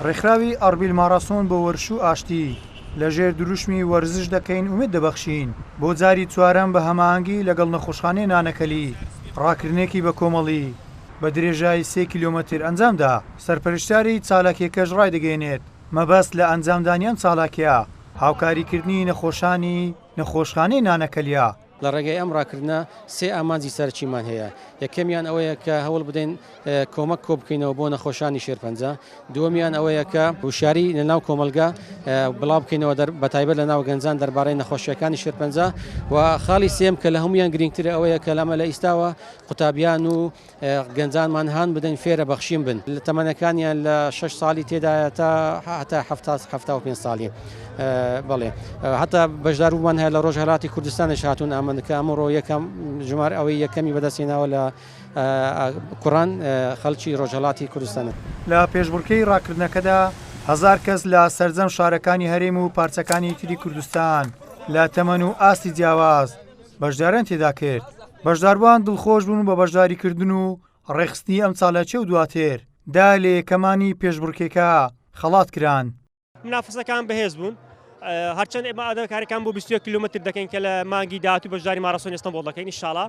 ڕێکخراوی ئاربیل ماڕاسۆن بۆ وەرش و ئاشتی لە ژێر دروشمی وەرزش دەکەین ئومێد دەبەخشین بۆ جاری چوارەم بە هەماهەنگی لەگەڵ نەخۆشخانەی نانەکەلی ڕاکردنێکی بەکۆمەڵی بە درێژایی سێ کیلۆمەتر ئەنجام دا. سەرپەرشتیاری چالاکیەکەش ڕایدەگەیەنێت، مەبەست لە ئەنجامدانی ئەم چالاکیە هاوکاریکردنی نەخۆشانی نەخۆشخانەی نانەکەلیە. لە ڕێگای ئەم ڕاکردنە سێ ئامانجی سەرەکیمان هەیە، یەکەمیان ئەوەیە کە هەوڵ بدەین کۆمەک کۆبکەینەوە بۆ نەخۆشانی شێرپەنجە، دووەمیان ئەوەیە کە وشیاری لە ناو کۆمەڵگە بڵاوبکەینەوە بەتایبەت لە ناو گەنجان دەربارەی نەخۆشییەکانی شێرپەنجە و خاڵی سێیەم کە لە هەموویان گرینگترە ئەوەیە کە لە ئیستاوە قوتابیان و گەنجانمان هان بدەین فێرە بەخشین بن لە تەمەنەکانیان لە شەش ساڵی تێدایە تا هەتا هەفتا هەفتا و پێنج ساڵی بەڵێ هەتا بەشدارومان هەیە لە ڕۆژهەلاتی کوردستانش هاتوون ئامەندەکە ئەمڕۆ یەکەم ژمار ئەوەی یەکەمی بەدەستێناوە لە کوڕان خەڵکی ڕۆژهەڵاتی کوردستانە لە پێشبڕکێی ڕاکردنەکەدا هەزار کەس لە سەرجەم شارەکانی هەرێم و پارچەکانی تری کوردستان لە تەمەن و ئاستی جیاواز بەشداریان تێدا کرد بەشداروان دڵخۆش بوون بە بەشداریکردن و ڕێخستنی ئەم چالاکی و دواتر دا لە یەکەمانی پێشبڕکێکە خەڵات کران. منافەسەکان بەهێز بوون هەرچەند ئێمە ئادەکارەکان بۆ 21 کیلومتر دەکەین کە لە مانگی داهاتوو بەشداری ماراسۆن ئێستەنبوڵ دەکەین ئینشاڵا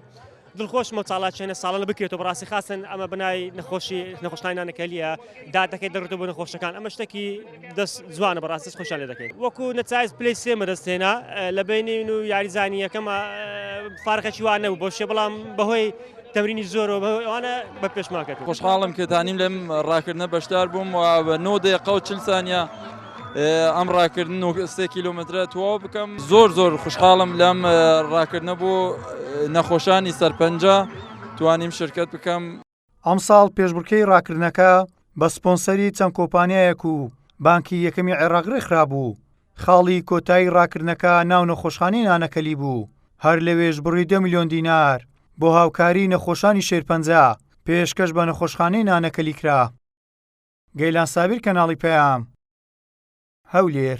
دڵخۆشمە چالاکیانە ساڵانە بکرێتەوە بەڕاستی خاستن ئەمە بنای نەخۆشی نەخۆشخانەی نانەکەلیە دادەکەی دەڕتە بۆ نەخۆشەکان ئەمە شتێکی دەست جوانە بەڕاست دەست خۆشیان لێ دەکەین وەکو نەچایز پلی سێ مەرەستێنا لە بینین و یاریزانی یەکەمە فارقەکی وانە و بۆشێ بەڵام بەهۆی تەمرینی زۆرەوە بەوانە بە پێشمان کرد خۆشحاڵم کە دانیم لەم ڕاکردنە بەشدار بووم و بە نۆ دقە و چل سانیا ئەم ڕاکردن و سێ کیلومترە تەواو بکەم زۆر زۆر خوشحاڵم لەم ڕاکردنە بۆ نەخۆشانی سەرپەنجە توانیم شرکت بکەم ئەمساڵ پێشبڕکێی ڕاکردنەکە بە سپۆنسەری چەند کۆمپانیایەک و بانکی یەکەمی عێراق ڕێکخرابوو، خاڵی کۆتایی ڕاکردنەکە ناو نەخۆشخانەی نانەکەلی بوو، هەر لەوێش بڕی دە ملیۆن دینار بۆ هاوکاریی نەخۆشانی شێرپەنجە پێشکەش بە نەخۆشخانەی نانەکەلی کرا. گەیلان سابیر کەناڵی پەیام. هەولێر.